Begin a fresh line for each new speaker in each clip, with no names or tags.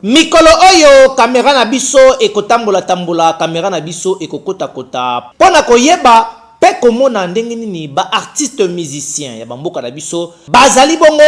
Mikolo oyo camera na biso ekotambola tambola camera na biso ekokota kota pona koyeba pe komona ndenge nini ba artistes musiciens ya ba mboka na biso bazali bongo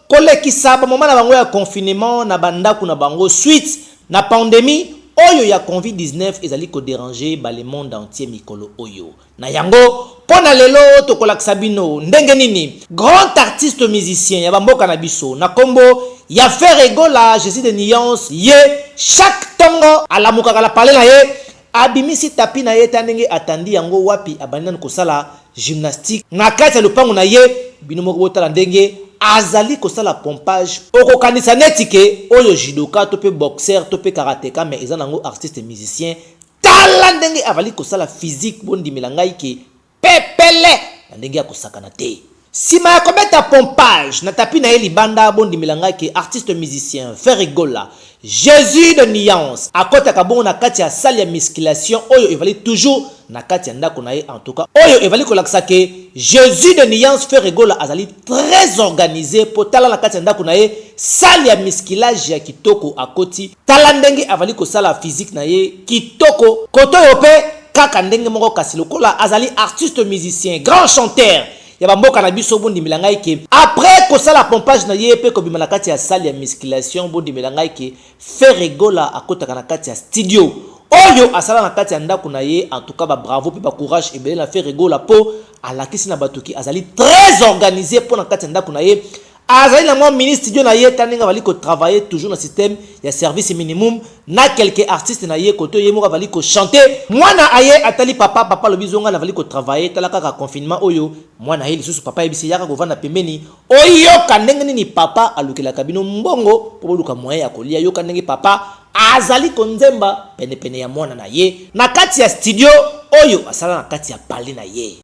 kolekisa ba moment na bango ya confinement na ba ndaku na bango suite na pandemie oyo ya convi 19 ezali ko deranger ba le monde entier mikolo oyo. Na yango, mpo na lelo tokolakisa bino ndenge nini grand artiste musicien ya ba mboka na biso na kombo ya Ferre Gola je suis de nuance ye chaque tongo alamukaka na palais na ye abimisi tapis na ye ta ndenge atandi yango wapi abandi nanu kosala gymnastique na kati ya lopango na ye bino moko botala ndenge azali kosala pompage okokanisa neti ke oyo judoka to pe boxeur to pe karateka mais eza nango artiste musicien Tala ndenge avali kosala physique bondimela ngai ke pepele na ndenge ya kosakana te. Sima ya kobeta pompage na tapis na ye libanda bondimela ngai ke artiste musicien Ferre Gola Jesus de nuance akotaka bongo na kati ya salle ya musculation oyo evali toujours na kati ya ndako na ye en tout cas oyo evali kolakisa ke Jesus de nuance Ferre Gola azali très organise po tala na kati ya ndako na ye salle ya musculage ya kitoko akoti Tala ndenge avali kosala physique na ye kitoko. Koto yo pe kaka ndenge moko kasi lokola azali artiste musicien grand chanteur ya ba mboka na biso bo ndimela ngai ke après kosala pompage na ye pe kobima na kati ya salle ya musculation bo ndimela ngai ke Ferre Gola akotaka na kati ya studio oyo asala na kati ya ndaku na ye en tout cas ba bravo pe ba courage ebele na Ferre Gola po alakisi na batu ke azali très organise po na kati ya ndaku na ye Azali na mwa mini studio na ye, tala ndenge avali ko travailler toujours na système ya service minimum na quelques artistes na ye kote oyo ye moko avali ko chanter. Mwana aye atali papa, papa alobi zo ngai navali ko travailler, tala kaka confinement oyo. Mwana aye lisusu, papa ayebisi ye yaka kovanda pembeni oyoka ndenge nini papa alukelaka bino mbongo po boluka moyen ya kolia. Yoka ndenge papa azali konzemba penepene ya mwana na ye na kati ya studio oyo asala na kati ya palais na ye.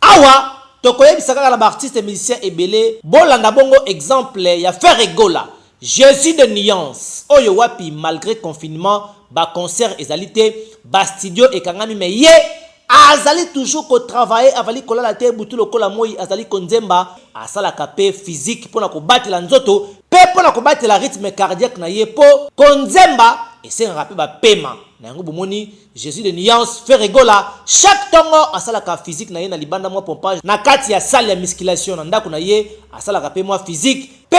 Awa toko yebisa kaka na ba artistes musiciens ebele bo landa bongo exemple ya Ferre Gola, Jesus de nuance oyo wapi malgre confinement ba concerts ezali te, ba studios ekangami mais ye azali toujours ko travailler avali kolala te butu lokola moyi azali ko nzemba, asalaka pe physique pona ko batela nzoto pe pona ko batela rythme cardiaque na ye po ko nzemba esengaka pe ba pema na yango bo moni Jesus de nuance Ferre Gola chaque tongo asalaka physique na ye na libanda mwa pompage na kati ya salle ya musculation na ndaku na ye asalaka pe mwa physique pe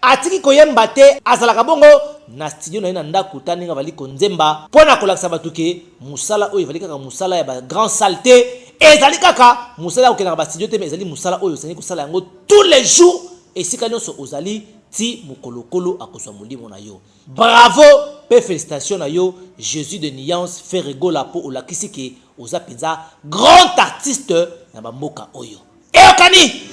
atiki koyemba te azalaka bongo na studio na ye na ndaku ta ndenge avali konzemba pona kolakisa batu ke musala oyo evali kaka musala ya ba grand salle te ezali kaka musala ya kokenda na ba studio te mais ezali musala oyo osengi kosala yango tous les jours esika nionso ozali ti mokolo kolo akozua molimo na yo. Bravo pe felicitations na yo Jesus de nuance Ferre Gola po olakisi ke oza penza grand artiste na ba mboka oyo. Eyokani!